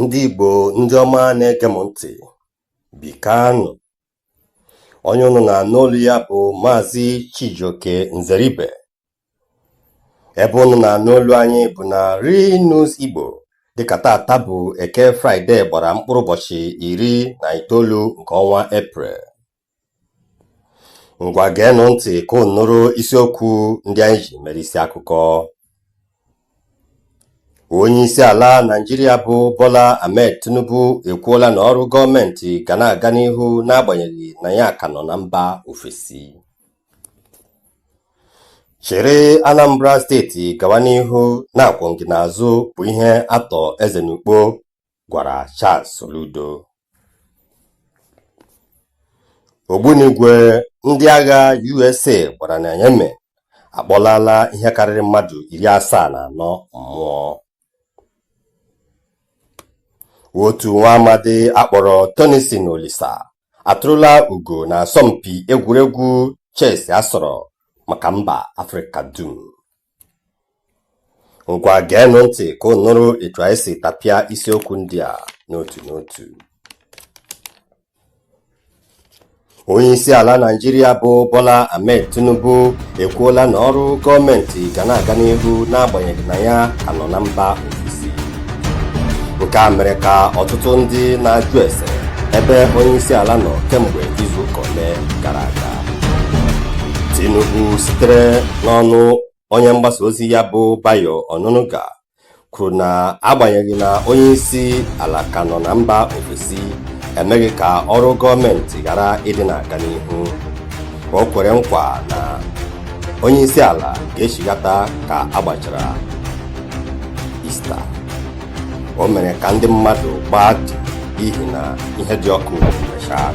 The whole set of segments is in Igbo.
ndị Igbo ndị ọma na-ege m ntị bikanụ onye unu na-anụ olu ya bụ Maazị Chijioke Nzeribe ebe unu na-anụ olu anyị bụ na Real News Igbo dịka tata bụ eke fraịde gbara mkpụrụ ụbọchị iri na itoolu nke ọnwa eprel ngwa geenụ ntị ka unu nụrụ isiokwu ndị anyị ji mere isi akụkọ onye isi ala naijiria bụ bola ahmed tinubu ekwuola na ọrụ gọọmenti ga na-aga n'ihu n'agbanyeghị na ya ka nọ na mba ofesi chịrị anambra steeti gawa n'ihu na akwụ m gị n'azụ bụ ihe Arthur Eze n'Ukpo gwara Charles Soludo ogbunigwe ndị agha USA gbara na Yemen akpọlala ihe karịrị mmadụ iri asaa na anọ mmụọ otu nwa amadi a kpọrọ Tennyson Olisa atụrụla ugo na asọmpi egwuregwu chess a sọrọ maka mba Afrịka dum Ngwa geenụ ntị ka unu nụrụ etu anyị si tapịa isiokwu ndị a n'otu n'otu. Onyeisiala Naịjirịa bụ Bola Ahmed Tinubu ekwuola na ọrụ gọọmentị ga na-aga n'ihu n'agbanyeghị na ya ka nọ na mba ofesi. nke a mere ka ọtụtụ ndị na-ajụ ese ebe onye isi ala nọ kemgbe izu ụka ole gara aga Tinubu sitere n'ọnụ onye mgbasa ozi ya bụ Bayo Onanuga kwuru na agbanyeghị na onye isi ala ka nọ na mba ofesi emeghị ka ọrụ gọọmenti ghara ịdị na-aga n'ihu o kwere nkwa na onye isi ala ga-echighata ka a gbachara Ista o mere ka ndị mmadụ gbaa dị n'ihi na ihe dị ọkụ mechaa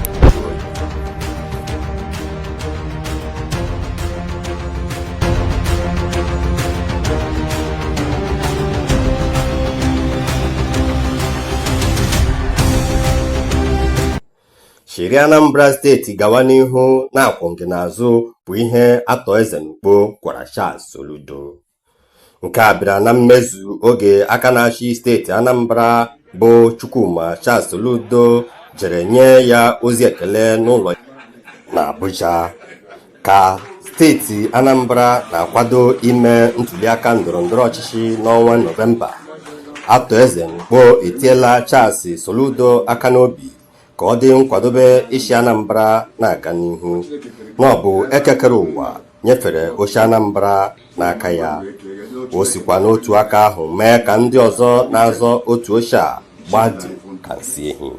chịrị Anambra steeti gawa n'ihu na akwụ m gị n'azụ bụ ihe Arthur Eze n'Ukpo gwara Charles Soludo nke a bịara na mmezu oge aka na-achị steeti Anambra bụ Chukwuma Charles Soludo jere nye ya ozi ekele n'ụlọ na Abuja ka steeti Anambra na-akwado ime ntuliaka ndọrọ ndọrọ ọchịchị n'ọnwa Nọvemba Arthur Eze n'Ukpo etiela Charles Soludo aka n'obi ka ọ dị nkwadobe isi Anambra na-aga n'ihu na ọ bụ Eke kere ụwa nyefere oche Anambra n'aka ya o sikwa n'otu aka ahụ mee ka ndị ọzọ na-azọ otu oche a gbadi ka nsị ehi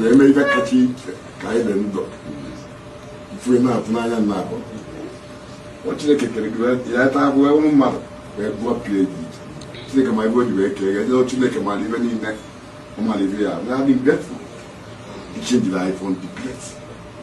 na-eme ife kacha iche ka anyị dị ndụ ife na-atụ n'anya nna abụ ọ chineke kere gị ya taa abụọ ụmụ mmadụ wee bụọ pie dị iche chineke ma ibe o ji wee kee ya jee chineke mara ibe niile ọ mara ibe ya na-adị mgbe iche njiri anyị fọ ndị pie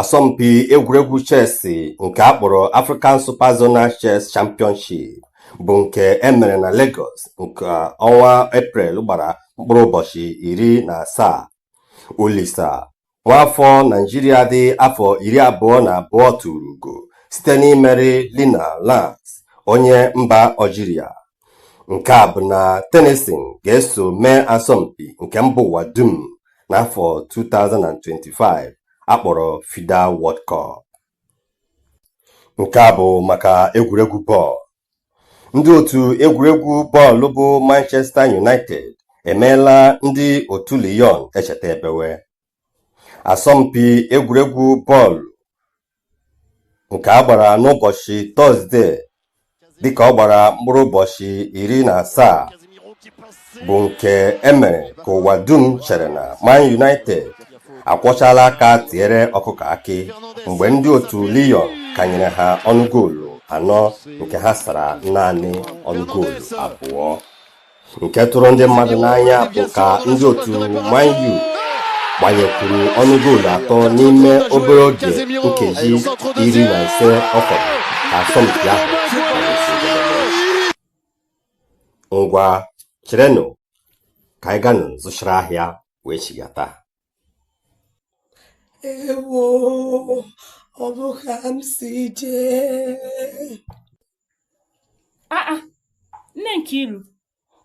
asọmpi egwuregwu chess nke a kpọrọ African Super Zonal Chess Championship bụ nke e mere na Lagos nke ọnwa Eprel gbara mkpụrụ ụbọchị iri na asaa Olisa nwaafọ Naijiria dị afọ iri abụọ na abụọ tụrụ ugo site n'imeri Lina Lance onye mba Algeria nke a bụ na Tennyson ga-eso mee asọmpi nke mba ụwa dum n'afọ 2025 a kpọrọ FIDE World Cup nke a bụ maka egwuregwu bọọlụ ndị otu egwuregwu bọọlụ bụ Manchester United emeela ndị otu Lyon echeta ebewe asọmpi egwuregwu bọọlụ nke a gbara n'ụbọchị tọzde dịka ọ gbara mkpụrụ ụbọchị iri na asaa bụ nke e mere ka ụwa dum chere na Man United akwọchaala aka tiere ọkụkọ akị mgbe ndị otu Lyon kanyere ha ọnụ goolu anọ nke ha sara naanị ọnụ goolu abụọ nke tụrụ ndị mmadụ n'anya bụ ka ndị otu Man U gbanyekwuru ọnụ goolu atọ n'ime obere oge nkeji iri na ise ọ fọrọ ka asọmpi ahụ ngwa cherenụ ka anyị ganụ zụchara ahịa wee chigata ewo ọ bụ ka m si jee aa ah, ah. nne Nkiru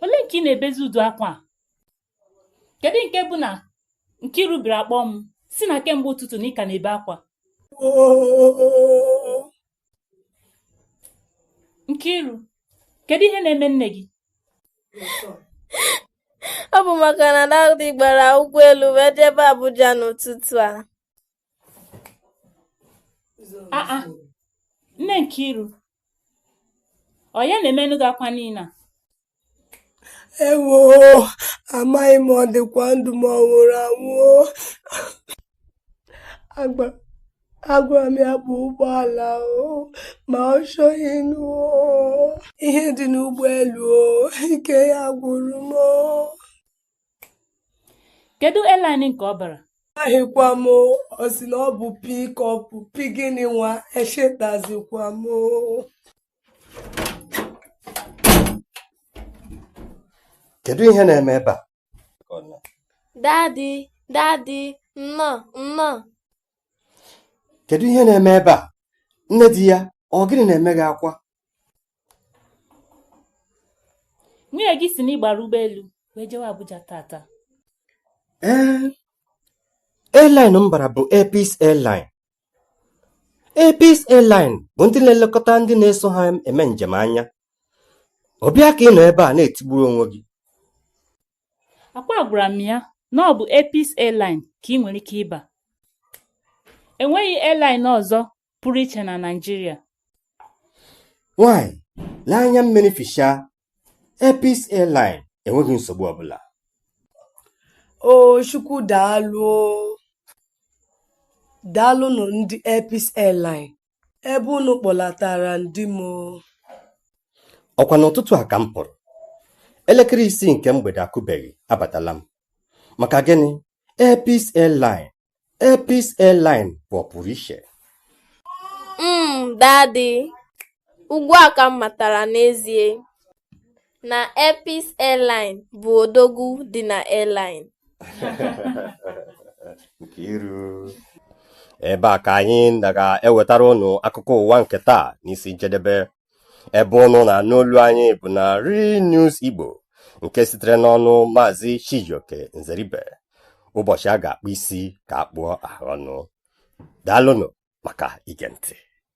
olee nke ị na-ebezi udu akwa a kedu nke bụ na Nkiru bịara akpọ m sị na kemgbe ụtụtụ na ị ka na-ebe akwa Nkiru, kedu ihe na-eme nne gị? Ọ bụ maka na Dadi gbara ụgbọelu wee jebe Abuja n'ụtụtụ a. Aa, ah, ah. nne Nkiru, ọ ya na-emenụ gị akwa niile a? ewo amaghị m ọ dịkwa ndụ ma ọ nwụrụ anwụ agwara m ya baa ụgbọala ma ọ chọghị ịnụ ihe dị n'ụgbọelu ike ya gwụrụ m kedu airline nke ọ bara amaghịkwa m ọ sị na ọ bụ pickup pi gịnị nwa echetazikwa m kedu ihe na-eme ebe a dadi dadi nnọọ nnọọ kedu ihe na-eme ebe a nne di ya ọ gịnị na-eme gị akwa nwunye gị sị na ị gbara ụgbọelu wee jewe Abuja tata ee airline m bara bụ Air Peace airline Air Peace Airline bụ ndị na-elekọta ndị na-eso ha eme njem anya ọ bụ ya ka ị nọ ebe a na-etigburu onwe gị akwa agwara m ya na ọ bụ Air Peace Airline ka ị nwere ike ịba enweghị airline ọzọ pụrụ iche na Naịjirịa nwanyị lee anya mmiri fichaa Air Peace Airline enweghị nsogbu ọbụla. O Chukwu daalụ o. Daalụnụ ndị Air Peace Airline ebe unu kpọlatara m di m o. Ọkwa n'ụtụtụ a ka m pụrụ. Elekere isii nke mgbede akụbeghị, abatala m. Maka gịnị? Air Peace Airline Air Peace Airline bụ ọpụrụ iche. Mm, Daddy, ugbu a ka m matara n'ezie na Air Peace Airline bụ odogwu dị na airline. Nkiru. Ebe a ka anyị na ga-ewetara ụnụ akụkọ ụwa nke taa n'isi njedebe. ebe ụnụ na-anụ olu anyị bụ na Real News Igbo nke sitere n'ọnụ maazị Chijioke Nzeribe ụbọchị a ga-akpụ isi ka a kpụọ ahụ ọnụ daalụnụ maka ige ntị